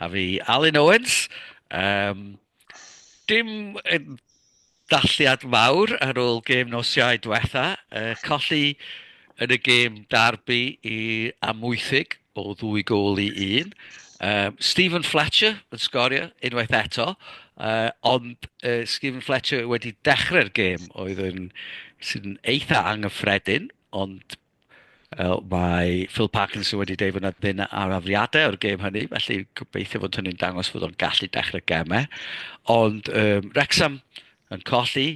A fi, Alun Owens. Um, dim dalliad mawr ar ôl gêm nos Iau diwetha. Uh, colli yn y gêm darbu i amwythig o ddwy gol i un. Um, Stephen Fletcher yn sgorio unwaith eto, uh, ond uh, Stephen Fletcher wedi dechrau'r gêm oedd yn sy'n eitha anghyffredin, ond Wel, mae Phil Parkinson wedi deud fod yna ddim arafiadau o'r gêm hynny, felly gobeithio fod hynny'n dangos fod o'n gallu dechrau gemau. Ond um, Rexham yn colli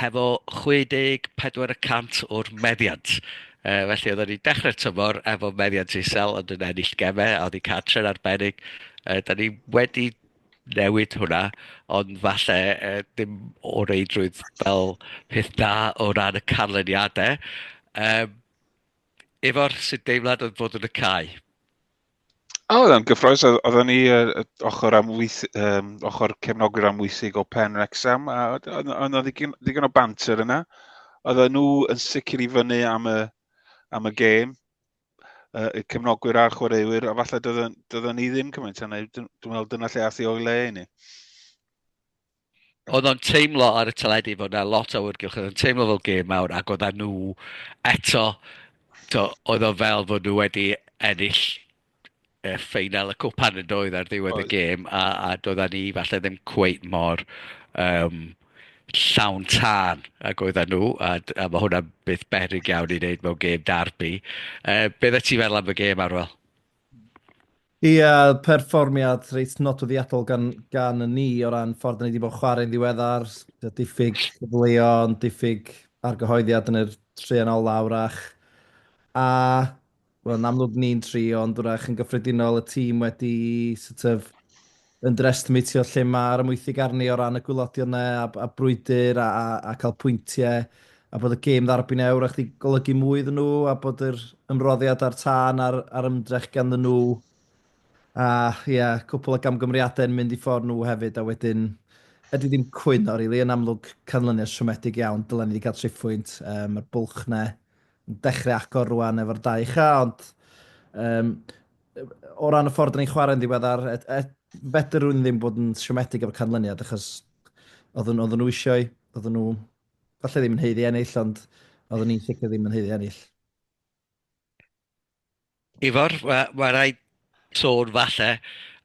hefo 64 y cant o'r meddiant. Uh, felly oedd wedi dechrau'r tymor efo meddiant isel ond yn ennill gemau a oedd wedi cael tren arbennig. Uh, da ni wedi newid hwnna, ond falle yy dim o reidrwydd fel peth da o ran y canlyniadau. Yym, Ifor, sut deimlad oedd bod yn y cae? O, oedd yn gyffroes. Oedd- Oedden ni yy, y ochr amwyth, um, ochr cefnogwyr amwythig o Pen Rexham, a oedd oedd- oedd 'na ddigon, ddigon o banter yna. Oedden nhw yn sicr i fyny am y, am y gêm. uh, y cefnogwyr a'r chwaraewyr, a falle dyda ni ddim cymaint yna, dwi'n meddwl dyna lle athi o'i le i ni. Oedd o'n teimlo ar y teledu fod yna lot o wrgylch, oedd o'n teimlo fel gêm mawr, ac oedd nhw eto, to, oedd o fel fod nhw wedi ennill y ffeinal y Copa yn doedd ar ddiwedd y gêm a, a doeddan ni falle ddim cweit mor um, llawn tân ac oedden nhw a, a mae hwnna beth berig iawn i wneud mewn gêm darbi. Uh, be dda ti feddwl am y gêm arwel? Ie, yeah, perfformiad reit nodwyddiadol gan, gan y ni o ran ffordd ni wedi bod chwarae'n ddiweddar, diffyg cyfleo, diffyg argyhoeddiad yn yr trian olaf wrach. A Wel yn amlwg ni'n trio ond wrach yn gyffredinol y tîm wedi sort of underestimate o lle mae'r amwythig arni o ran y gwylodion yna a, a brwydr a, a, a cael pwyntiau a bod y gêm ddarbyn e wrach wedi golygu mwy iddyn nhw a bod yr ymroddiad a'r tân a'r, ar ymdrech ganddyn nhw a ie, yeah, cwpl o gamgymeriadau yn mynd i ffordd nhw hefyd a wedyn ydy ddim cwyno, rili, really, yn amlwg canlyniad siomedig iawn, dylen ni wedi cael triphwynt, um, mae'r bwlch na dechrau agor rwan efo'r dau cha, ond um, o ran y ffordd ni'n chwarae'n ddiweddar, et, et, fedr rwy'n ddim bod yn siomedig efo'r canlyniad, achos oedden, oedden nhw eisiau, oedden nhw, falle ddim yn heiddi ennill, ond oedden ni'n sicr ddim yn heiddi ennill. Ifor, mae ma raid sôn falle,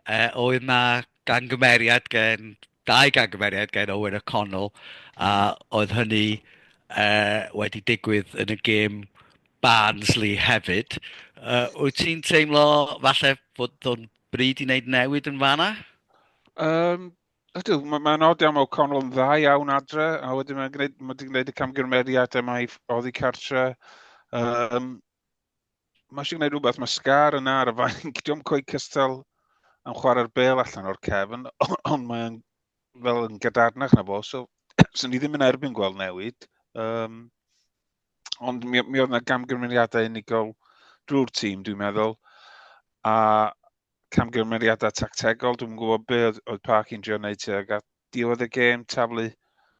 uh, oedd na gangymeriad gen, dau gangymeriad gen Owen a Connell, a oedd hynny uh, wedi digwydd yn y gêm Barnsley hefyd. Uh, wyt ti'n teimlo falle bod o'n bryd i wneud newid yn fanna? Um, ydw, mae'n ma nod iawn o Connell yn dda iawn adre, a wedyn mae'n gwneud, mae gwneud y camgymeriad yma i oddi cartre. Um, Mae eisiau gwneud rhywbeth, mae Scar yna ar y fainc, diolch yn coed cystal yn chwarae'r bel allan o'r cefn, ond mae'n fel yn gadarnach na fo, so sy'n ni ddim yn erbyn gweld newid. Um, ond mi, mi oedd yna gamgymeriadau unigol drwy'r tîm, dwi'n meddwl, a camgymeriadau tactegol, dwi'n gwybod be oedd, oedd Park i'n drio wneud tuag at diwedd y gêm, taflu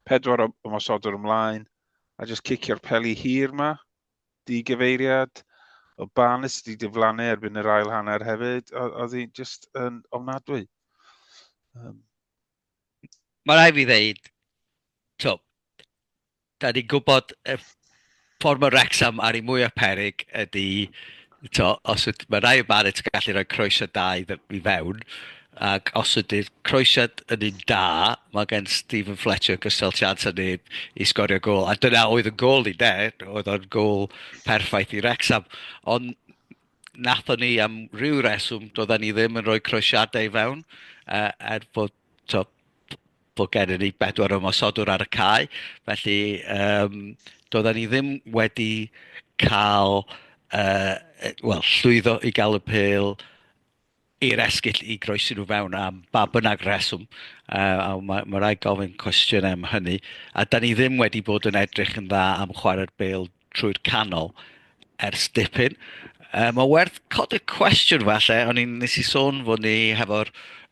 pedwar o ymosodwr ymlaen, a jyst cicio'r peli hir yma, di gyfeiriad o Barnes wedi diflannu erbyn yr ail hanner hefyd, oedd hi'n just yn ofnadwy. Um. Mae rai fi ddeud, to, da ni'n gwybod y ffordd mae Wrexham ar ei mwyaf perig ydy Tibod, os yd- mae rhai yn Barrett yn gallu rhoi croeso da i fe- i fewn, ac os ydy'r croesiad yn un da, mae gen Steven Fletcher gystal chance â neb i sgorio gol. A dyna oedd yn gol ni, de. Oedd o'n gol perffaith i Wrexham. Ond nathon ni am ryw reswm, doedden ni ddim yn rhoi croesiadau i fewn, uh, er bod, tibod, bod gennym ni bedwar ymosodwr ar y cae, felly um, doedden ni ddim wedi cael, uh, well, llwyddo i gael y pel i'r esgyll i groesi nhw fewn am ba bynnag reswm. Uh, a mae, mae rhaid gofyn cwestiwn am hynny. A da ni ddim wedi bod yn edrych yn dda am chwarae'r bel trwy'r canol ers dipyn. Um, mae werth cod y cwestiwn falle, o'n i'n nes i sôn fod ni hefo'r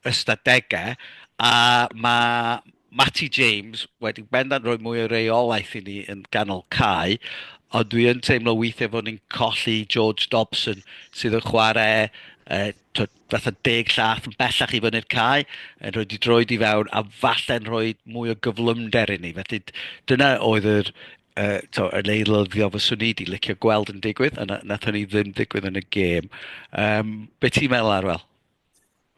ystadegau, a mae Matty James wedi bendant rhoi mwy o reolaeth i ni yn ganol cae, ond dwi yn teimlo weithiau fod ni'n colli George Dobson sydd yn chwarae uh, twyd, fatha deg llath yn bellach i fyny'r cae, yn rhoi di droed i fewn a falle'n rhoi mwy o gyflymder i ni. Felly dyna oedd yr yy t'o' yn eilyddio fyswn i 'di licio gweld yn digwydd, a na- nath hynny ddim digwydd yn y gêm. Yym be' ti'n meddwl Arwel?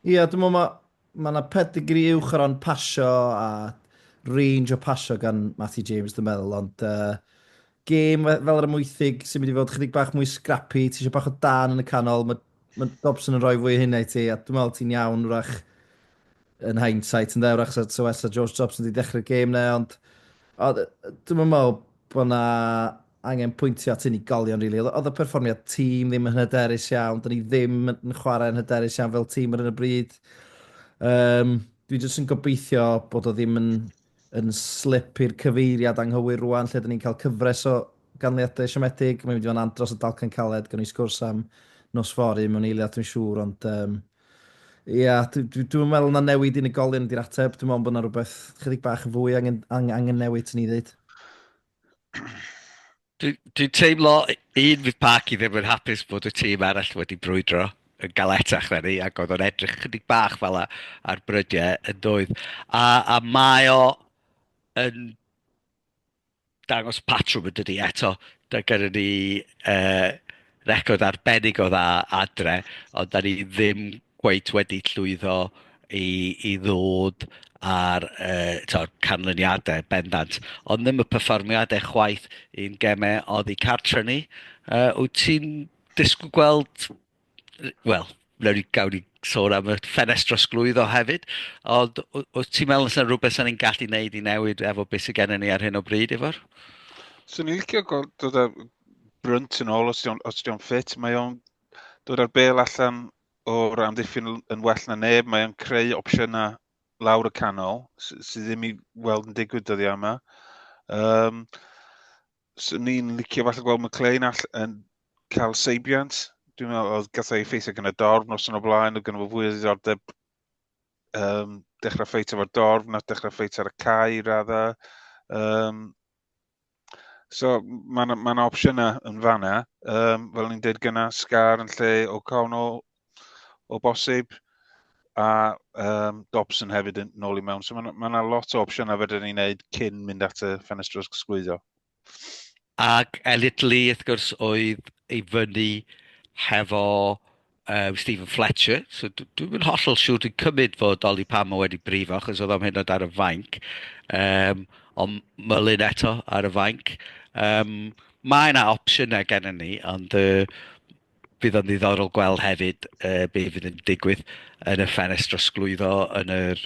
Ia dwi'n meddwl ma' ma' 'na pedigri uwch o ran pasio a range o pasio gan Matthew James dwi'n meddwl ond uh, gêm fel yr Amwythig sy'n mynd i fod chydig bach mwy scrappy, ti eisiau bach o dan yn y canol, mae Mae Dobson yn rhoi fwy o hynna i ti, a dwi'n meddwl ti'n iawn wrach yn hindsight, yn dda wrach sa so, so, George Dobson wedi dechrau'r gêm na, ond o, dwi'n meddwl bod yna angen pwyntio at unigolion, rili. Really. Oedd y perfformiad tîm ddim yn hyderus iawn, dyn ni ddim yn chwarae yn hyderus iawn fel tîm ar y bryd. Um, dwi jyst yn gobeithio bod o ddim yn yn slip i'r cyfeiriad anghywir rwan, lle dyn ni'n cael cyfres o ganlyniadau siomedig. Mae'n mynd i fod yn andros o dalcan caled, gan i sgwrs am nos fori mewn eiliad dwi'n siŵr, ond um, ia, dwi'n dwi, dwi meddwl na newid unigolion ydy'r ateb, dwi'n meddwl bod yna rhywbeth chydig bach yn fwy angen, angen, angen newid, ti'n ni ddweud. Dwi'n dwi teimlo, un, fydd Parky ddim yn hapus bod y tîm arall wedi brwydro yn galetach na ni, ac oedd o'n edrych chydig bach fel la ar brydiau yn doedd. A, a mae o yn dangos patrwm yn dydi eto, da gyda ni uh, record arbennig o dda adre, ond da ni ddim cweit wedi llwyddo i, i ddod ar uh, to, canlyniadau bendant. Ond ddim y perfformiadau chwaith i'n gemau oddi cartre ni. Uh, wyt ti'n disgwyl gweld, wel, Wnawn ni, gawn ni sôn am y ffenest drosglwyddo hefyd. Ond w- wyt ti'n meddwl yna rhywbeth sy'n ni'n gallu gwneud i newid efo beth sydd gennym ni ar hyn o bryd, Ifor? So ni'n licio gweld dod â brynt yn ôl os di'n os di'n ffit. Mae o'n dod â'r bel allan o'r amddiffyn yn well na neb. Mae o'n creu opsiynau lawr y canol sydd ddim i weld yn digwydd dyddiau yma. Um, So, ni'n licio falle gweld McLean all yn cael seibiant. Dwi'n meddwl oedd gathau ei ffeithio gyda dorf nos yn o blaen, oedd gen fo fwy o ddiddordeb um, dechrau ffeit efo'r dorf na dechrau ffeit ar y cae i raddau. Um, so mae'n ma, opsiynau yn fanna. Um, fel ni'n dweud gyna, Scar yn lle O'Connell, o bosib, a um, Dobson hefyd yn ôl i mewn. So mae yna lot o opsiynau fedrwn ni'n neud cyn mynd at y ffenestr sgwyddo. Ac Elliot Lee, wrth gwrs, oedd ei fyny hefo um, Stephen Fletcher. So dwi'n mynd hollol siŵr, dwi'n cymryd fod Oli Pamo wedi brifo, achos oedd am hyn ar y fainc. Um, ond mylun eto ar y fainc. Um, mae yna opsiynau gennym ni, ond uh, Bydd o'n ddiddorol gweld hefyd uh, be fydd yn digwydd yn y ffenest drosglwyddo yn yr,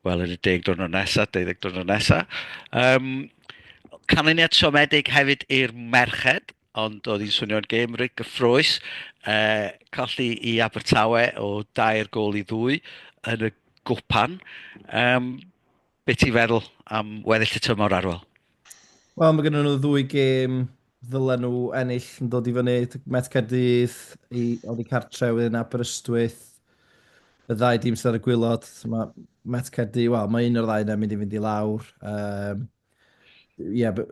wel, yn y deg diwrnod nesaf, deuddeg diwrnod nesaf. Um, canlyniad siomedig hefyd i'r merched, ond oedd hi'n swnio'n gêm reit gyffroes. Uh, colli i Abertawe o dair gol i ddwy yn y gwpan. Um, Be ti'n feddwl am weddill y tymor, Arwel? Wel, mae gennyn nhw ddwy gêm ddylen nhw ennill yn dod i fyny. Met Caerdydd i oddi cartre wedyn Aberystwyth. Y ddau dîm sydd ar y gwylod, mae Met Caerdydd, wel, mae un o'r ddau yna mynd i fynd i lawr. Um, yeah, but,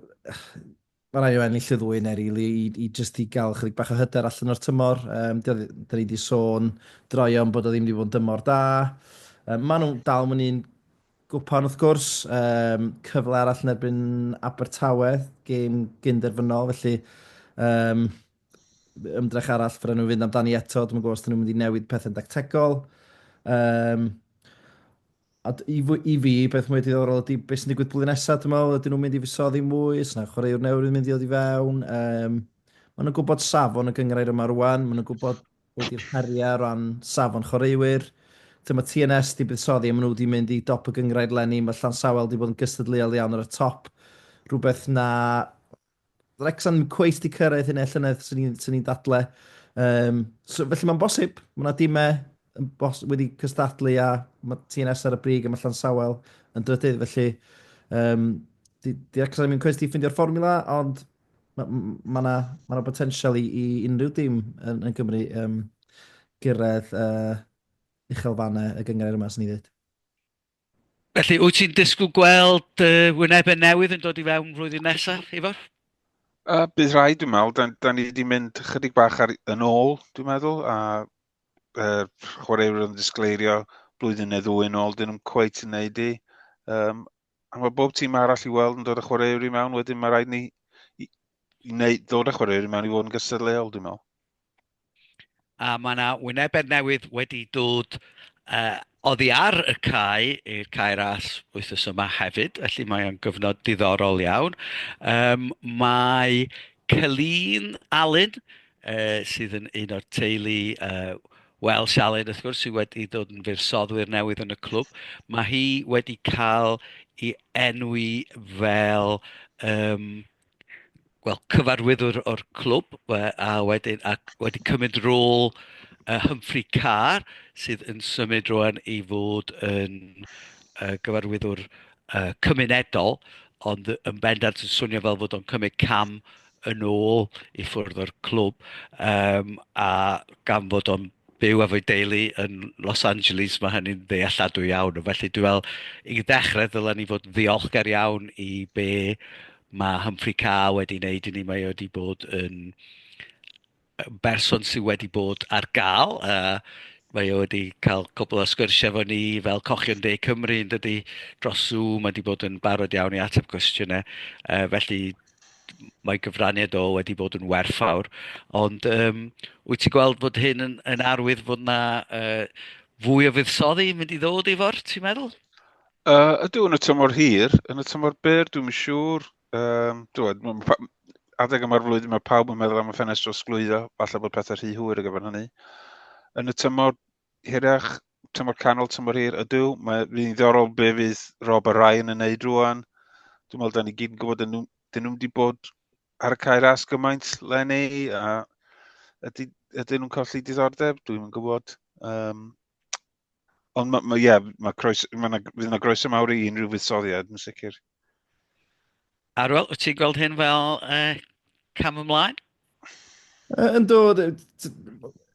Mae'n rhaid i nhw ennill y ddwy neu rili i, i just i gael chydig bach o hyder allan o'r tymor. Um, da ni wedi sôn droion bod o ddim wedi bod yn dymor da. Um, maen nhw'n dal mwyn un gwpan wrth gwrs, um, cyfle arall yn erbyn Abertawe, gêm gynderfynol, felly um, ymdrech arall fyrra nhw fynd amdani eto, dwi'n gwybod os dyn nhw'n mynd i newid pethau'n dactegol. Um, A d- i fy- i fi, beth mwy diddorol ydy beth sy'n digwydd blwyddyn nesaf, dwi'n meddwl, ydyn nhw'n mynd i fusoddi mwy, os yna chwaraewr newydd yn mynd i ddod i fewn. Um, maen nhw'n gwybod safon y gyngrair yma rwan, maen nhw'n gwybod beth yw'r heriau o ran safon chwaraewyr. Dyma mae TNS wedi buddsoddi a maen nhw wedi mynd i dop y gyngrair lenni, mae Llansawel wedi bod yn gystadleuol iawn ar y top, rhywbeth na Wrecsam ddim cweit wedi cyrraedd hynna llynedd sy'n ni'n sy ni dadle. Um, so, felly mae'n bosib, mae yna dimau bos, wedi cystadlu a mae TNS ar y brig a mae Llan Sawel yn drydydd, felly um, di, di Wrecsam ddim cweit wedi ffindio'r fformula, ond mae yna ma ma, ma potensial i, i unrhyw dim yn, yn Gymru um, gyrraedd uh, uchelfannau y gyngrau yma, sy'n ni ddweud. Felly, wyt ti'n disgwyl gweld uh, wynebau newydd yn dod i fewn flwyddyn nesaf, Ifor? Uh, bydd rhaid, dwi'n meddwl. Da, da ni wedi mynd chydig bach ar, yn ôl, dwi'n meddwl, a uh, chwaraewyr yn disgleirio blwyddyn neu ddwy yn ôl, dyn nhw'n cweith yn neud i. Um, a mae bob tîm arall i weld yn dod â chwaraewyr i mewn, wedyn mae rhaid ni i, i wneud, ddod â chwaraewyr i mewn i fod yn gystadleuol, dwi'n meddwl. A mae 'na wynebedd newydd wedi dod yy oddi ar y cae i'r Cae Ras wythnos yma hefyd, felly mae o'n gyfnod diddorol iawn. Yym mae Celine Alun yy sydd yn un o'r teulu yy Welsh Alun wrth gwrs sy wedi dod yn fuddsoddiwr newydd yn y clwb. Mae hi wedi cael ei enwi fel yym wel, cyfarwyddwr o'r clwb we, a wedyn a wedi cymryd rôl uh, Humphrey Carr sydd yn symud rwan i fod yn uh, gyfarwyddwr uh, cymunedol ond yn bendant yn swnio fel fod o'n cymryd cam yn ôl i ffwrdd o'r clwb um, a gan fod o'n byw efo'i deulu yn Los Angeles, mae hynny'n ddealladwy iawn. Felly dwi fel, i ddechrau ddylen ni fod yn ddiolchgar iawn i be mae Humphrey Carr wedi wneud i ni. Mae wedi bod yn berson sydd wedi bod ar gael. Uh, mae wedi cael cwbl o sgyrsiau efo ni fel cochion de Cymru yn dydy dros Zoom. Mae wedi bod yn barod iawn i ateb cwestiynau. Uh, felly mae gyfraniad o wedi bod yn werthfawr, ond yym wyt ti'n gweld bod hyn yn yn arwydd fod 'na yy fwy o fuddsoddi yn mynd i ddod i fod, ti'n meddwl? Uh, ydw, yn y tymor hir, yn y tymor byr, dwi'n yn siŵr. Um, dwi'n, meddwl, adeg yma'r flwyddyn mae pawb yn meddwl am y ffenestr o sglwyddo, falle bod pethau rhy hwyr ar gyfer hynny. Yn y tymor hirach, tymor canol, tymor hir, ydw. Mae'n fydd ddiddorol be fydd Rob a Ryan yn neud rwan. Dwi'n meddwl, da ni gyd yn gwybod, dyn nhw'n nhw wedi bod ar y cair as gymaint lenni, a ydy, ydy nhw'n colli diddordeb, dwi'n yn gwybod. Um, ond mae, ma, yeah, ma croes, ma na, fydd yna groes mawr i unrhyw fuddsoddiad, yn sicr. Arwel, wyt ti'n gweld hyn fel uh, cam ymlaen? Uh, yn dod,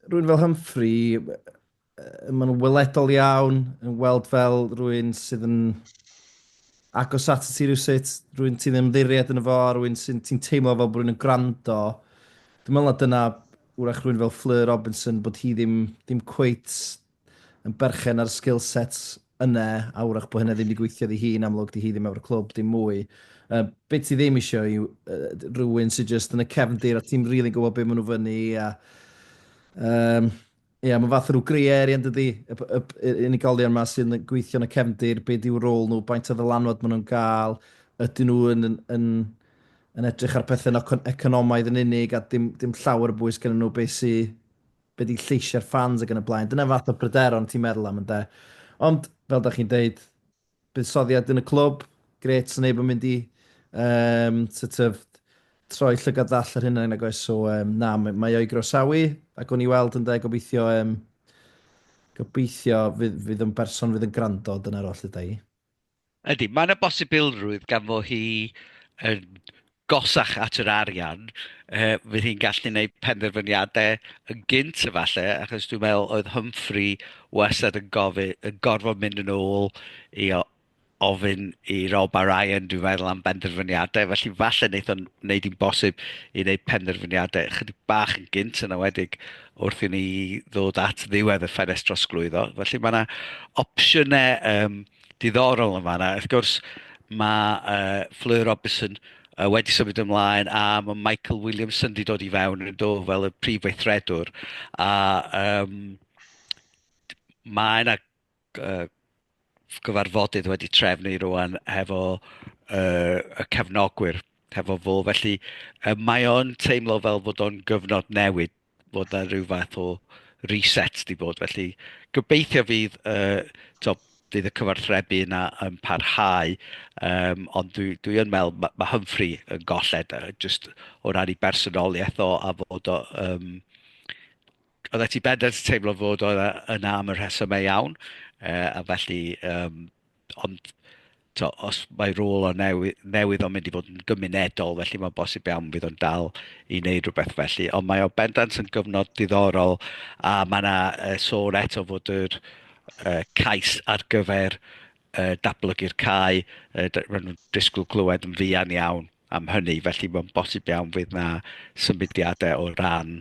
rwy'n fel Humphrey, uh, mae'n weledol iawn, yn weld fel rwy'n sydd yn agos at y ti rhywsut, rwy'n ti'n ymddiried yn y fo, rwy'n ti'n teimlo fel bod rwy'n yn gwrando. Dwi'n meddwl na dyna wrach rwy'n fel Fleur Robinson bod hi ddim, ddim cweit yn berchen ar skill sets yna, a wrach bod hynna ddim wedi gweithio iddi hi'n amlwg, 'di hi ddim efo'r clwb dim mwy. Uh, be ti ddim eisiau yw uh, rhywun sydd jyst yn y cefndir a ti'n rili really gwybod beth maen nhw fyny a... Um, Ie, yeah, mae'n fath o rhyw grey area yn dydy, y unigolion yma sy'n gweithio yn y cefndir, be di'w rôl nhw, baint o ddylanwad maen nhw'n gael, ydyn nhw yn, yn, yn, yn edrych ar pethau yn economaidd yn unig a dim, dim llawer o bwys gen nhw beth sy'n be di lleisiau'r ffans ac yn y blaen. Dyna fath o bryderon ti'n meddwl am ynde. Ond, fel da chi'n deud, buddsoddiad yn y clwb, gret sy'n neb yn mynd i um, sort of, troi llygad ddall ar hynna nag oes. So, um, na, mae o'i groesawu ac o'n i weld ynde, gobeithio, um, gobeithio fydd, fydd yn berson fydd yn gwrando, dyna'r oll yda i. Ydy, mae yna bosibilrwydd gan fo hi yn gosach at yr arian, yy, fydd hi'n gallu neud penderfyniadau yn gynt efalle, achos dwi'n meddwl oedd Humphrey wastad yn gofi- yn gorfod mynd yn ôl i o- ofyn i Rob a Ryan dwi'n meddwl am benderfyniadau, felly falle neith o'n neud hi'n bosib i neud penderfyniadau ychydig bach yn gynt yn awedig wrth i ni ddod at ddiwedd y ffenest drosglwyddo. Felly mae yna opsiynau um, diddorol yn fanna. Wrth gwrs, mae uh, Fleur Robinson uh, wedi symud ymlaen a mae Michael Williamson wedi dod i fewn yn do fel y prif weithredwr. A um, mae yna uh, gyfarfodydd wedi trefnu rwan hefo uh, y cefnogwyr hefo fo. Felly uh, mae o'n teimlo fel fod o'n gyfnod newid fod 'na rhyw fath o reset 'di bod, felly gobeithio fydd y, t'o' fydd y cyfarthrebu yna yn parhau, um, ond dwi, dwi yn meddwl mae ma Humphrey yn golled, uh, just o ran i bersonoliaeth o a fod o... Um, oedd e ti bendant teimlo fod o yna am y rhesymau iawn, uh, a felly um, Ond, t'o', os mae rôl o newy- newydd o'n mynd i fod yn gymunedol, felly mae'n bosib iawn fydd o'n dal i wneud rhywbeth felly. Ond mae o bendant yn gyfnod diddorol, a mae 'na yy sôn eto fod yr yy cais ar gyfer yy datblygu'r cae yy d- ma' nhw'n disgwyl clywed yn fuan iawn. am hynny, felly mae'n bosib iawn fydd na symudiadau o ran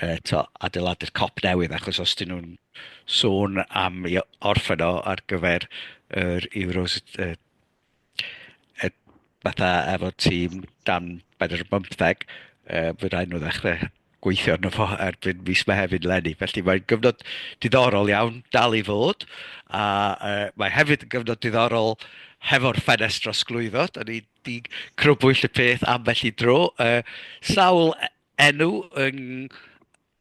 uh, to, adeiladu'r cop newydd, achos os dyn nhw'n sôn am i orffen o ar gyfer yr Euros, uh, uh, fatha efo tîm dan bedair y bymtheg, uh, fe rhaid nhw ddechrau gweithio arno fo erbyn mis Mehefin lenni. Felly mae'n gyfnod diddorol iawn dal i fod, a uh, mae hefyd yn gyfnod diddorol hefo'r ffenest drosglwyddo. Da ni'n Di crybwyll y peth ambell i dro. Uh, sawl e-, enw yn,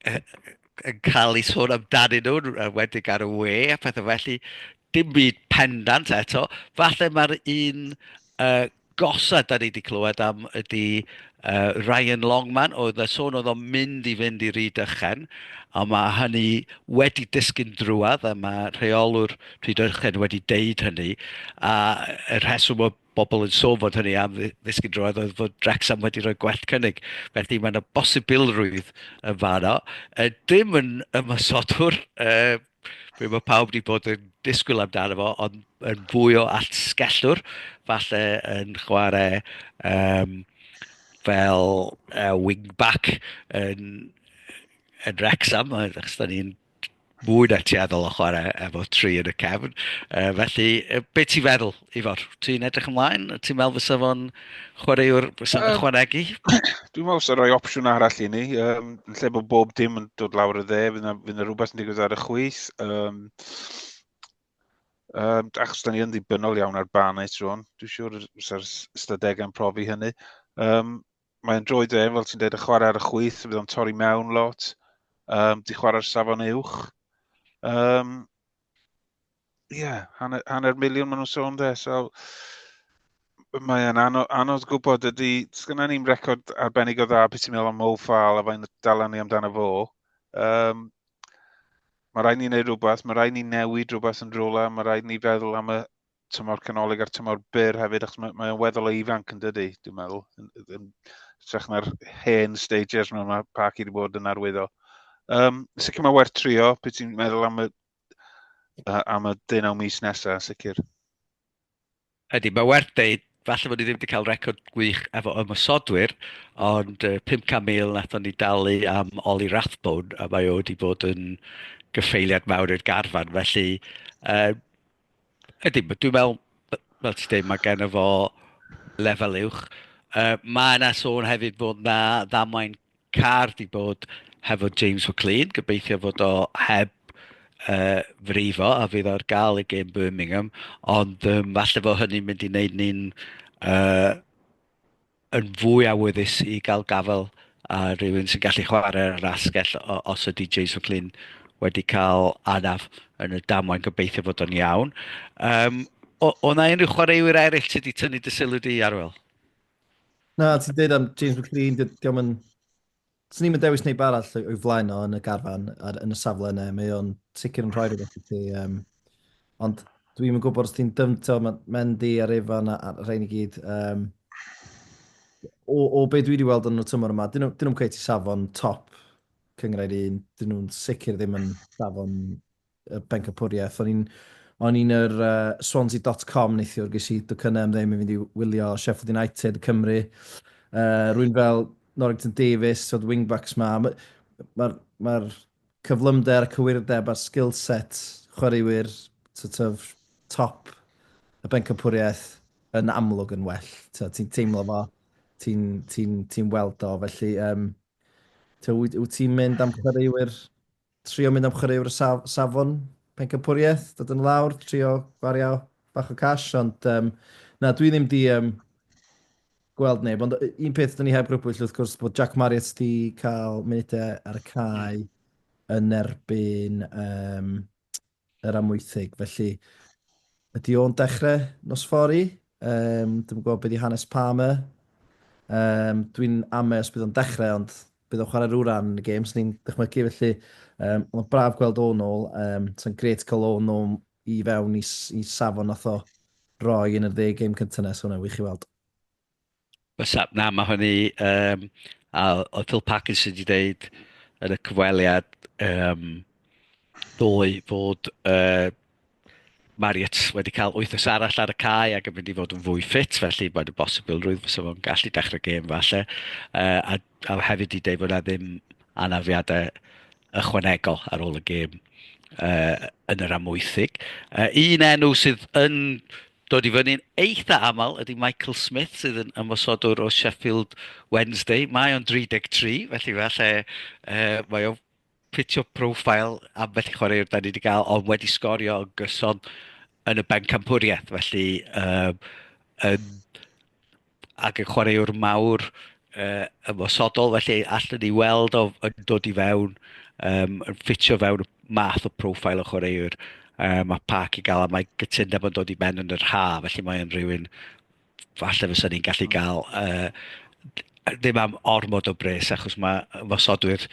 yn cael ei sôn amdanyn nhw, wedig ar y we a pethau felly. Dim byd pendant eto. Falle mae'r un uh, gosa da ni wedi clywed am ydy uh, Ryan Longman, oedd y sôn oedd o'n mynd i fynd i Ryd Ychen, a mae hynny wedi disgyn drwad, a mae rheolwr Ryd Ychen wedi deud hynny, a y rheswm o bobl yn sôn fod hynny am ddysgu droed oedd fod Wrexham wedi rhoi gwell cynnig. Felly mae yna bosibilrwydd yn fanno. Uh, dim yn ymwysodwr, uh, fe mae pawb wedi bod yn disgwyl amdano fo, ond yn fwy o atgellwr, falle yn chwarae um, fel uh, wing-back yn, yn Wrexham, achos da ni'n mwy na tueddol o chwarae efo tri yn y cefn. Uh, felly, be ti'n feddwl, Ifor? Ti'n edrych ymlaen? Ti'n meddwl fysa fo'n chwaraewr fysa'n um, chwanegu? Dwi'n meddwl fysa rhoi opsiwn arall i ni. Um, yn lle bod bob dim yn dod lawr y dde, fydd yna rhywbeth yn digwydd ar y chwys. Um, um, achos da ni yn ddibynnol iawn ar ban ei tron. Dwi'n siŵr fysa'r ystadegau'n profi hynny. Um, mae'n droed fe, fel ti'n dweud, y chwarae ar y chwyth, bydd o'n torri mewn lot, um, di chwarae'r safon uwch. Um, yeah, hanner, hanner miliwn maen nhw'n sôn dde, so mae'n anodd, anodd gwybod ydy, sgynna ni'n record arbennig o dda beth ti'n meddwl am Mo Fal a fain dalan ni amdano fo. Um, mae rhaid ni'n gwneud rhywbeth, mae rhaid ni'n newid rhywbeth yn rhywle, mae rhaid ni feddwl am y, tymor canolig a'r tymor byr hefyd, achos mae, mae o'n weddol o ifanc yn dydy, dwi'n meddwl. Yn, yn, trech na'r hen stages mewn mae Parky wedi bod yn arwyddo. Um, sicr mae werth trio, beth ti'n meddwl am y, uh, am y dyn deunaw mis nesaf, sicr. Ydy, mae werth deud, falle bod ni ddim wedi cael record gwych efo ymwysodwyr, ond uh, 500,000 nathon ni dalu am Oli Rathbone, a mae o wedi bod yn gyffeiliad mawr i'r garfan, felly uh, Ydy, dwi'n meddwl, fel ti'n dweud, mae gen fo lefel uwch. Uh, mae yna sôn hefyd bod na ddamwain car di bod hefo James McLean, gobeithio fod o heb uh, frifo a fydd o'r gael i gêm Birmingham, ond um, falle fo hynny'n mynd i wneud ni'n uh, yn fwy awyddus i gael gafael ar rywun sy'n gallu chwarae ar yr asgell os ydy Jason Flynn wedi cael anaf yn y damwain gobeithio fod o'n iawn. Um, o, o na unrhyw chwaraewyr eraill sydd wedi tynnu dy sylw di, Arwel? Na, ti'n dweud am James McLean, diolch yn 'Swn i'm yn dewis neb arall o'i o'i flaen o yn y garfan ar yn y safle yna. Mae o'n sicr yn rhoi rhywbeth i ti yym ond dwi'm yn gwybod os ti'n dyfn- t'o' ma' Mendy a Rayfan a a'r rhein i gyd yym o o be' dwi 'di weld yn y tymor yma 'dyn nhw 'dyn nhw'm cweit i safon top Cynghrair Un. 'Dyn nhw'n sicr ddim yn safon y pencampwriaeth. O'n i'n o'n i'n yr uh, swansea.com neithiwr, ges i dwcynnau am ddim i fynd i wylio Sheffield United Cymru. Uh, rwy'n fel Norrington Davis, oedd wingbacks ma. Mae'r ma, ma, ma cyflymder, cywirdeb a'r skill set chwaraewyr sort of, top y bencampwriaeth yn amlwg yn well. Ti'n teimlo fo, ti'n ti, ti, ti weld o. Felly, um, wyt ti'n mynd am chwaraewyr Trio mynd am chwaraewr o saf, safon pencampwriaeth, dod yn lawr, trio gwario bach o cash, ond um, na, dwi ddim di um, gweld neb, ond un peth dyn ni heb grybwyll wrth gwrs bod Jack Marriott di cael munudau ar y cae yn erbyn um, yr Amwythig. Felly, ydy o'n dechrau nos fori? Um, dwi'n gwybod beth i hanes Palmer. Um, dwi'n amau os bydd o'n dechrau, ond bydd o'n chwarae rhyw ran yn y games ni'n dychmygu. Felly, um, mae'n braf gweld o'n ôl. Um, Sa'n gret cael o'n ôl i fewn i, i safon nath o roi yn y dde game cyntaf nes, hwnna'n wych i weld. What's up? Na, mae hwn i... Um, a oedd Phil Parkinson wedi dweud yn y cyfweliad um, ddoe fod uh, Marriott wedi cael wythnos arall ar y cae ac yn mynd i fod yn fwy ffit, felly mae'n y bosibilrwydd fysa fo'n gallu dechrau gêm falle. Uh, a, a hefyd i dweud bod yna ddim anafiadau ychwanegol ar ôl y gêm uh, yn yr amwythig. Uh, un enw sydd yn dod i fyny'n eitha aml ydy Michael Smith sydd yn ymwysodwr o Sheffield Wednesday. Mae o'n 33, felly falle uh, mae o'n ffitio profil am felly chwaraewr da ni wedi cael, ond wedi sgorio yn gyson yn y bencampwriaeth. Felly, um, yn ac yn chwaraewr mawr uh, ymosodol, felly allan ni weld o yn dod i fewn, um, yn ffitio fewn math o profil o chwaraewr um, mae Park i gael, a mae gytundeb yn dod i ben yn yr ha, felly mae'n rhywun falle fysa ni'n gallu mm. gael uh, ddim am ormod o bres achos mae ymosodwyr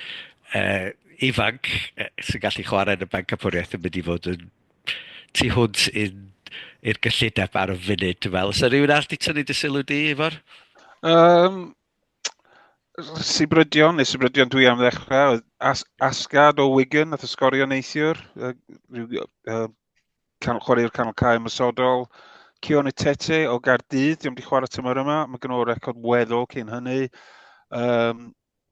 uh, ifanc uh, sy'n gallu chwarae yn y banc capwriaeth yn mynd i fod yn tu hwnt i'n i'r gyllideb ar y funud, dwi'n meddwl. Os rhywun arall di tynnu dy sylw di, Ifor? Um, Sibrydion, neu Sibrydion dwi am ddechrau, As Asgard o Wigan, nath y sgorio neithiwr, uh, rhyw, uh, can, chwarae'r canol cael ymwysodol, Cion y Tete o Gardydd, diolch wedi chwarae tymor yma, mae gen o'r record weddol cyn hynny. Um,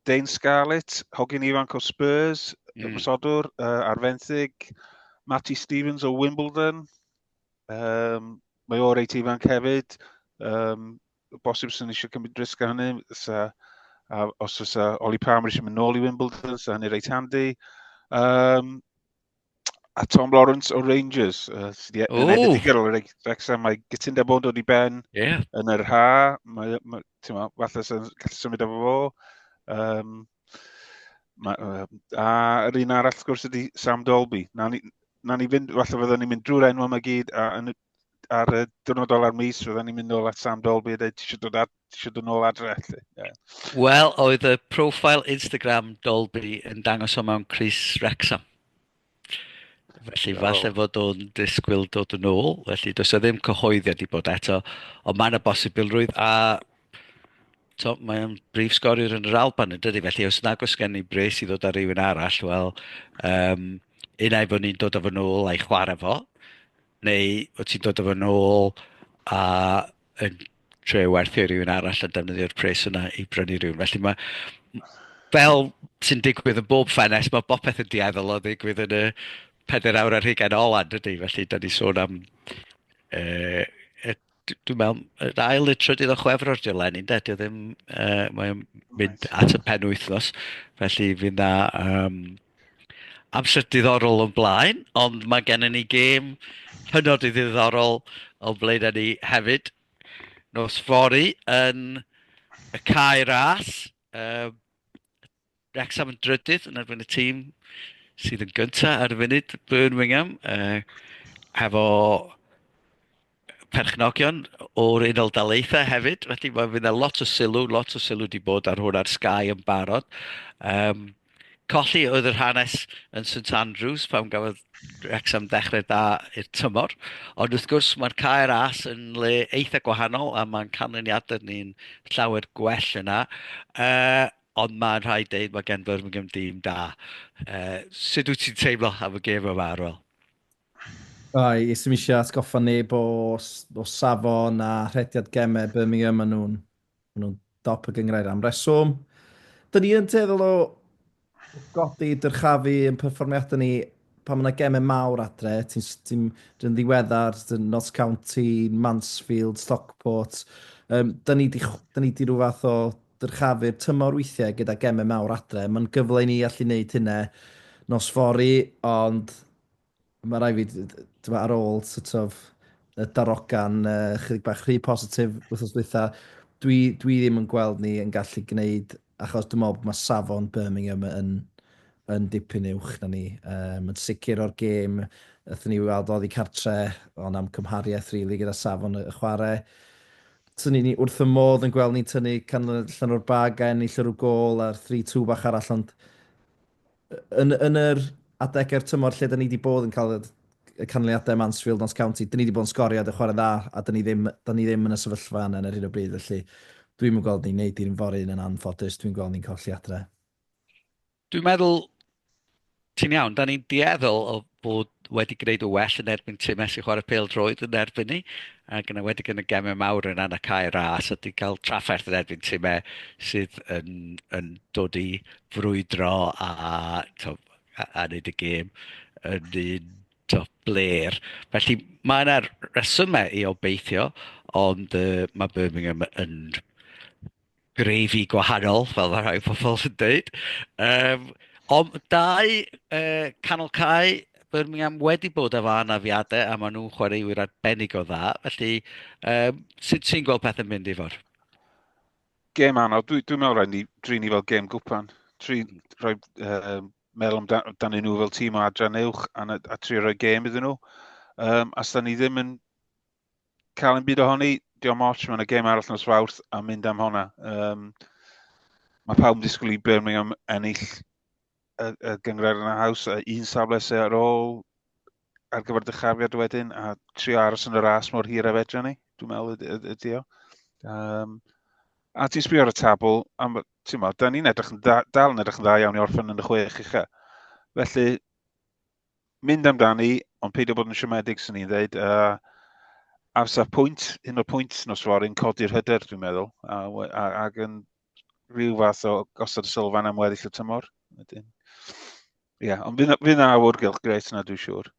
Dane Scarlett, hogyn ifanc o Spurs, mm. ymwysodwr uh, ar fenthyg, Matty Stevens o Wimbledon, um, mae o'r reit ifanc hefyd, um, bosib sy'n eisiau cymryd risg ar hynny, sa, a, os oes Oli Palmer eisiau mynd nôl i Wimbledon, sa hynny reit handi. Um, A Tom Lawrence o Rangers, uh, sydd wedi oh. ennill y digger o'r Wrexham. Mae gytunda bod dod i ben yeah. yn yr ha. Mae, mae, ma, falle sy'n gallu symud efo fo. Um, ma, uh, a yr un arall, gwrs, ydy Sam Dolby. Na ni, na ni fynd, falle fydden ni'n mynd drwy'r enw yma gyd, a yn y ar y diwrnod ola'r mis, roedden ni'n mynd nôl at Sam Dolby a dweud, ti eisiau dod, ad, ti eisiau dod nôl adre, felly. Yeah. Wel, oedd y profil Instagram Dolby yn dangos o mewn Chris Rexham. Felly, oh. falle fod o'n disgwyl dod yn ôl, felly does o ddim cyhoeddiad i bod eto, ond mae yna bosibilrwydd a to, mae o'n brif sgoriwr yn yr Alban yn dydy, felly os nag os gen ni bres i ddod ar rywun arall, wel, um, unai bod ni'n dod o fy nôl a'i chwarae fo, Neu wyt ti'n dod â fo'n ôl a yn trio werthu i rywun arall a defnyddio'r pres yna i brynu rhywun. Felly mae, fel sy'n digwydd yn bob ffenes, mae bopeth yn dueddol o ddigwydd yn y peder awr ar hugain ola, dydy? Felly, da ni sôn am uh, dwi, dwi'n meddwl, yr ail neu trydydd o chwefror di'r lenni, de? Dwi ddim, uh, mae'n mynd at y pen wythnos, felly fi'n dda um, amser diddorol o'n blaen, ond mae gennym ni gêm hynod i ddiddorol o'n blaen â ni hefyd. Nos fori yn y cae ras, uh, Wrecsam yn drydydd yn erbyn y tîm sydd yn gyntaf ar y funud, Birmingham, uh, hefo perchnogion o'r Unol Daleithiau hefyd. Felly mae fydd yna lot o sylw, lot o sylw wedi bod ar hwn ar Sky yn barod. Um, colli oedd yr hanes yn St Andrews pan gafodd Wrexham ddechrau da i'r tymor. Ond wrth gwrs mae'r cair as yn le eitha gwahanol a mae'n canlyniadau ni'n llawer gwell yna. Uh, Ond mae'n rhaid deud mae gen Birmingham dîm da. Uh, sut wyt ti'n teimlo am y gêm yma, Arwel? Oi, ysym eisiau atgoffa neb o, o safon a rhediad gemau Birmingham. Maen nhw'n nhw dop y gyngrair am reswm. Dyn ni yn teddol o godi dyrchafu yn perfformiadau ni pan mae yna gemau mawr adre, ti'n ti ddiweddar, Notts County, Mansfield, Stockport, um, da ni di, da ni di rhyw fath o Dyrchafu'r tymor weithiau gyda gemau mawr adre. Mae'n gyfle i ni allu wneud hynna nos fory, ond mae rai fi, dyma, ar ôl sort of, y darogan uh, chydig bach rhy positif wythnos dwytha, dwi, dwi ddim yn gweld ni yn gallu gwneud, achos dwi'n meddwl bod mae safon Birmingham yn, yn dipyn uwch na ni. Um, yn sicr o'r gêm, ydyn ni weld oddi cartre, ond am cymhariaeth rili really, gyda safon y chwarae. So ni ni wrth y modd yn gweld ni'n tynnu canlyniad allan o'r bag a ennill yr gol a'r 3-2 bach arall ond yn, yn yr adegau'r tymor lle da ni wedi bod yn cael y canlyniadau ym Mansfield, Notts County, da ni wedi bod yn sgorio a chwarae'n dda a da ni ddim, da ni ddim yn y sefyllfa yna ar hyn o bryd felly dwi'n yn gweld ni'n neud i'r un fory un yn anffodus, dwi'n gweld ni'n colli adre. Dwi'n meddwl ti'n iawn. Dan ni'n dueddol o fod wedi gwneud yn well yn erbyn timau sy'n chwarae pêl-droed yn erbyn ni, ac yn enwedig yn y gemau mawr yn yna cael ei ras a ti'n cael trafferth yn erbyn timau sydd yn, yn dod i frwydro a, to, a, a wneud y gêm yn un to, bler. Felly mae yna resymau i obeithio, ond uh, mae Birmingham yn grefi gwahanol, fel mae rhai pobl yn dweud. Um, ond dau uh, canol cae Birmingham wedi bod efo anafiadau a maen nhw'n chwaraewyr arbennig o dda. Felly, um, sut ti'n gweld pethau'n mynd i fod? Gêm anodd. Dwi'n dwi meddwl rhaid ni drin ni fel gêm gwpan. Tri, rhoi, uh, meddwl amdanyn nhw fel tîm o adran uwch a, a tri rhoi gêm iddyn nhw. Um, a da ni ddim yn cael yn byd ohoni, diolch moch, mae'n y gêm arall nos fawrth a mynd am hwnna. Um, mae pawb yn disgwyl i Birmingham ennill y, y gyngred yn y haws, a un safle sy'n ar ôl ar gyfer dychafiad wedyn, a tri aros yn y ras mor hir a fedra ni, dwi'n meddwl ydy o. Um, a ti'n sbio ar y tabl, am, ti'n meddwl, da ni'n edrych yn da, dal yn edrych yn dda iawn i orffen yn y chwech eich. Felly, mynd amdani, ond peidio bod yn siomedig, sy'n ni'n dweud. Uh, ar saf pwynt, un o'r pwynt nos fory, yn codi'r hyder, dwi'n meddwl, a, a, ac yn rhyw fath o gosod y sylfan am weddill y tymor. Wedyn. Ie, yeah, ond fydd na awr gylch gret yna, dwi'n siŵr.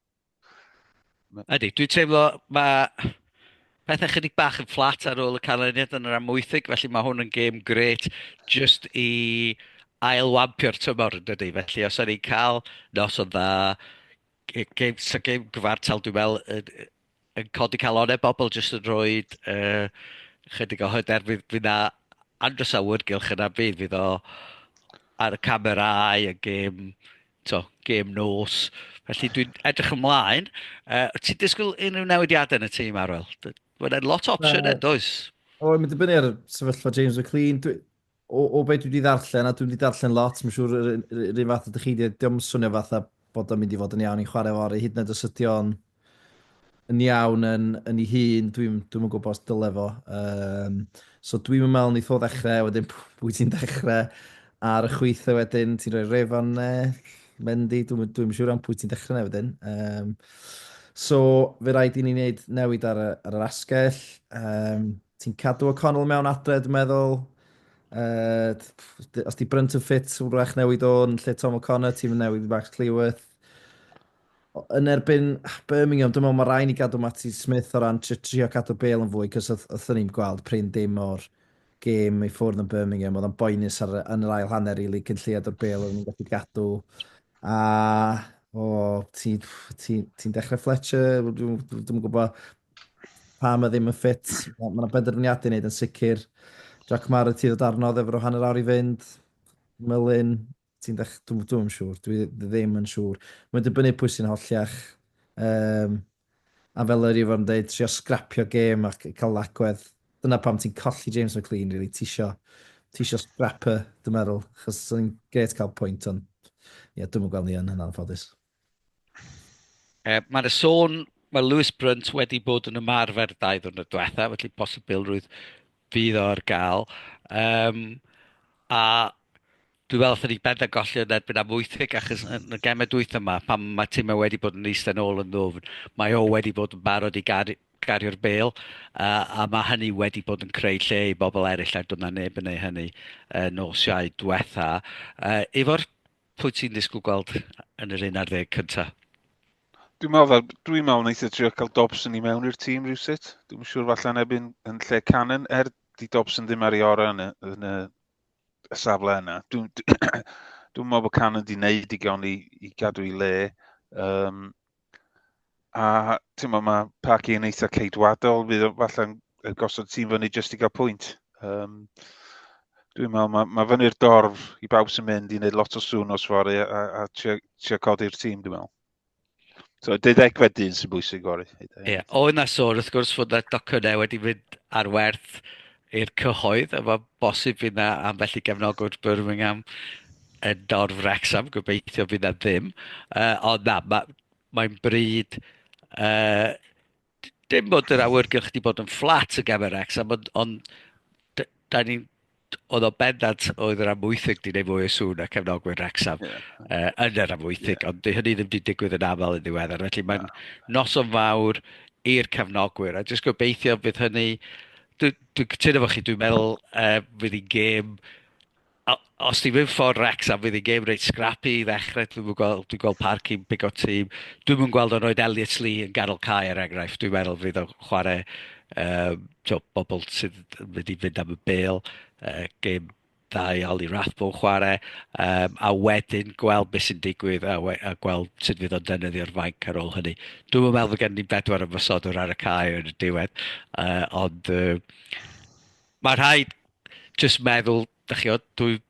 Ydy, dwi'n teimlo mae pethau chydig bach yn fflat ar ôl y canlyniad yn yr amwythig, felly mae hwn yn gêm gret just i ailwampio'r tymor yn dydy. Felly os o'n i'n cael nos o'n dda, gêm, so gêm gyfartal dwi'n meddwl yn, yn codi calonau bobl jyst yn rhoi uh, chydig o hyder fydd, fydd na Andros Awyrgylch yna bydd, fydd o ar y camerau, y gêm to, gêm nos. Felly dwi'n edrych ymlaen. Uh, ti'n disgwyl unrhyw newidiadau yn y tîm, Arwel? Mae'n lot o opsiwn uh, does? O, mae'n dibynnu ar sefyllfa James McLean. Dwi, o, o beth dwi wedi ddarllen, a dwi wedi ddarllen lot, mae'n siŵr yr un fath ydych chi, diolch yn swnio fatha bod o'n mynd i fod yn iawn i'n chwarae fori, hyd yn oed os ydy o'n yn iawn yn, yn ei hun, dwi'n dwi yn gwybod os dyle fo. Um, so dwi'n meddwl ni tho ddechrau, wedyn pwy ti'n dechrau ar y chwythau wedyn, ti'n rhoi refon nell, Mendy, dwi'n dwi siŵr am pwy ti'n dechrau neu wedyn. Um, so fe rhaid i ni wneud newid ar, ar yr asgell. Um, ti'n cadw o Connell mewn adre, dwi'n meddwl. Uh, os di Brunt yn ffit, wrach newid o'n lle Tom O'Connor, ti'n newid Max Cleworth. yn erbyn Birmingham, dwi'n meddwl mae rhaid ni gadw Matty Smith o ran trio cadw bel yn fwy, cos oeddwn ni'n gweld prin dim o'r gêm i ffwrdd yn Birmingham, oedd o'n boenus ar, yn yr ail hanner, rili, really, cyn lleiad o'r bel oedd ni'n gallu gadw. A, o, ti'n ti, ti dechrau Fletcher, dwi'n gwybod pa mae ddim yn ffit, mae yna benderfyniadau wneud yn sicr. Jack Marr y ti ddod arno, ddefro hanner awr i fynd, Mylun, Ti'n dech... Dw- Dwi'm yn siŵr. Dwi ddim yn siŵr. Mae'n dibynnu pwy sy'n holliach. Um, a fel yr Ifor yn dweud, trio sgrapio gêm ac cael lagwedd. Dyna pam ti'n colli James McLean, really. Ti isio, ti isio scrapper, dwi'n meddwl. Chos sy'n gret cael pwynt, ond... Ie, yeah, dwi'n yn gweld ni yn hynna'n ffodus. Yy, mae 'na sôn, mae Lewis Brunt wedi bod yn ymarfer dau ddiwrnod diwetha', felly posibilrwydd fydd o ar ga'l. Yym, a dwi me'wl allwn ni benda golli o yn erbyn am wytheg achos yn y geme dwytha 'ma pan ma' time wedi bod yn eistedd nôl yn ddwfn, mae o wedi bod yn barod i gar- gario'r bêl, a, a mae hynny wedi bod yn creu lle i bobl eraill a doedd 'na neb yn neu' hynny yy nos Iau dwetha'. Yy, efo'r Pwy ti'n ddisgwyl gweld yn yr un ar ddeg cyntaf? Dwi'n meddwl, dwi'n meddwl wneud y trio cael Dobson i mewn i'r tîm rhywsut. Dwi'n siŵr falle yn ebyn yn lle Cannon, er di Dobson ddim ar ei orau yn y, yn y, y safle yna. Dwi'n dwi, dwi meddwl bod Cannon di wneud digon i, i gadw i le. Um, A ti'n meddwl mae Parky yn eitha ceidwadol, fydd falle'n gosod tîm fyny jyst i gael pwynt. Um, dwi'n meddwl, mae, mae fyny'r dorf i bawb sy'n mynd i wneud lot o sŵn os fori a, a, a trio codi'r tîm, dwi'n meddwl. So, deuddegfed dyn sy'n bwysig fori. Ie, yeah. o yna sôn, wrth gwrs, fod y docynnau wedi mynd ar werth i'r cyhoedd, a mae bosib fydd na ambell i gefnogwr Birmingham yn dorf Wrexham, gobeithio fydd na ddim. Uh, ond na, ma, mae'n bryd... Uh, dim bod yr awyrgylch wedi bod yn fflat y gamer Wrexham, ond, ond da ni'n oedd o bendant oedd yr amwythig di wneud fwy o sŵn a cefnogwyr Wrexham yeah. uh, yn yr amwythig, yeah. ond hynny ddim wedi digwydd yn aml yn ddiweddar. Felly mae'n yeah. noson fawr i'r cefnogwyr, a jyst gobeithio bydd hynny Dwi'n dwi cytuno efo chi, dwi'n meddwl uh, fydd hi'n gêm... Os ti'n mynd ffordd Rex am fydd hi'n gêm reit scrappy i ddechrau, dwi'n mynd gweld, dwi'n gweld parc i'n big o tîm. Dwi'n mynd gweld o'n oed Elliot Lee yn ganol cae er enghraifft, dwi'n meddwl fydd o'n chwarae um, to, bobl sydd yn mynd i fynd am y bel, uh, gêm da iawn i Rathbone chwarae, um, a wedyn gweld beth sy'n digwydd a, we, a gweld sut fydd o'n defnyddio'r fainc ar ôl hynny. Dwi'n meddwl bod gen ni bedwar ymwysodwr ar y cae yn y diwedd, uh, ond uh, mae rhaid jyst meddwl, da chi o, dwi...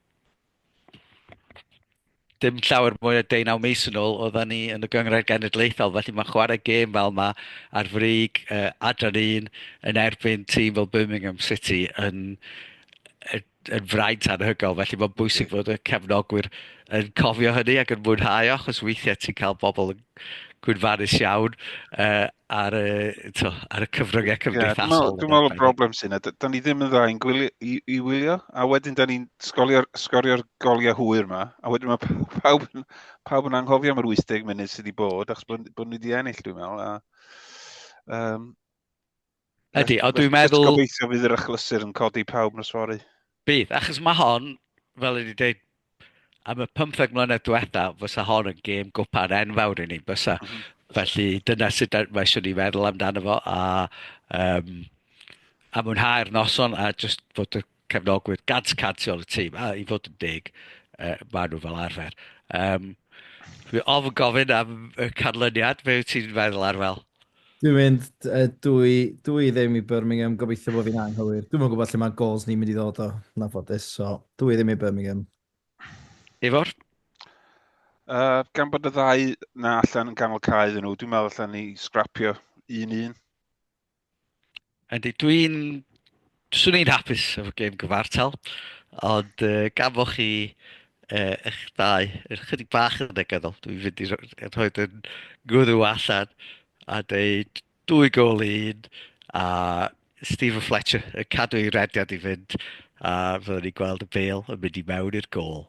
dim llawer mwy na deunaw mis yn ôl oeddan ni yn y Gynghrair Genedlaethol, felly mae'n chwarae gêm fel yma ar frig uh, adran un yn erbyn tîm fel Birmingham City yn, yn, yn fraint anhygol, felly mae'n bwysig fod y cefnogwyr yn cofio hynny ac yn mwynhau o, achos weithiau ti'n cael bobl yn gwynfarus iawn uh, ar, y, to, ar y cyfryngau cymdeithasol. Yeah, dwi'n meddwl y broblem sy'n yna, da ni ddim yn dda i'n gwylio, i, i wylio, a wedyn da ni'n sgorio'r sgorio goliau hwyr yma, a wedyn mae pawb, pawb yn anghofio am yr 80 munud sydd wedi bod, achos bod, bod ni wedi ennill, dwi'n meddwl. A, um, Ydy, ond dwi'n meddwl... Gobeithio fydd yr achlysur yn codi pawb nos fori. Bydd, achos mae hon, fel ydy dweud, am y 15 mlynedd diwetha, fysa hon yn gêm gwpan enfawr i ni, fysa. Mm -hmm. Felly dyna sut mae eisiau ni feddwl amdano fo, a, um, a mwynhau'r noson, a just fod y cefnogwyr gant cant o'r tîm, a i fod yn deg, uh, maen nhw fel arfer. Um, Dwi ofn gofyn am y canlyniad, fe wyt ti'n feddwl ar fel? Dwi'n mynd, uh, dwi, dwi ddim i Birmingham, gobeithio bod fi'n anghywir. Dwi'n mynd gwybod lle mae gols ni'n mynd i ddod o, na ffodus, so dwi ddim i Birmingham. Ifor? Uh, gan bod y ddau na allan yn ganol cael iddyn nhw, dwi'n meddwl allan ni scrapio un un. Yndi, dwi'n... Swn i'n hapus efo gêm gyfartal, ond uh, gan fo chi uh, eich dau yn chydig bach yn negyddol, dwi'n fynd i rhoi yn gwrw allan a dweud dwy gol un a Stephen Fletcher yn cadw ei rediad i fynd a fyddwn ni'n gweld y bel yn mynd i mewn i'r gol.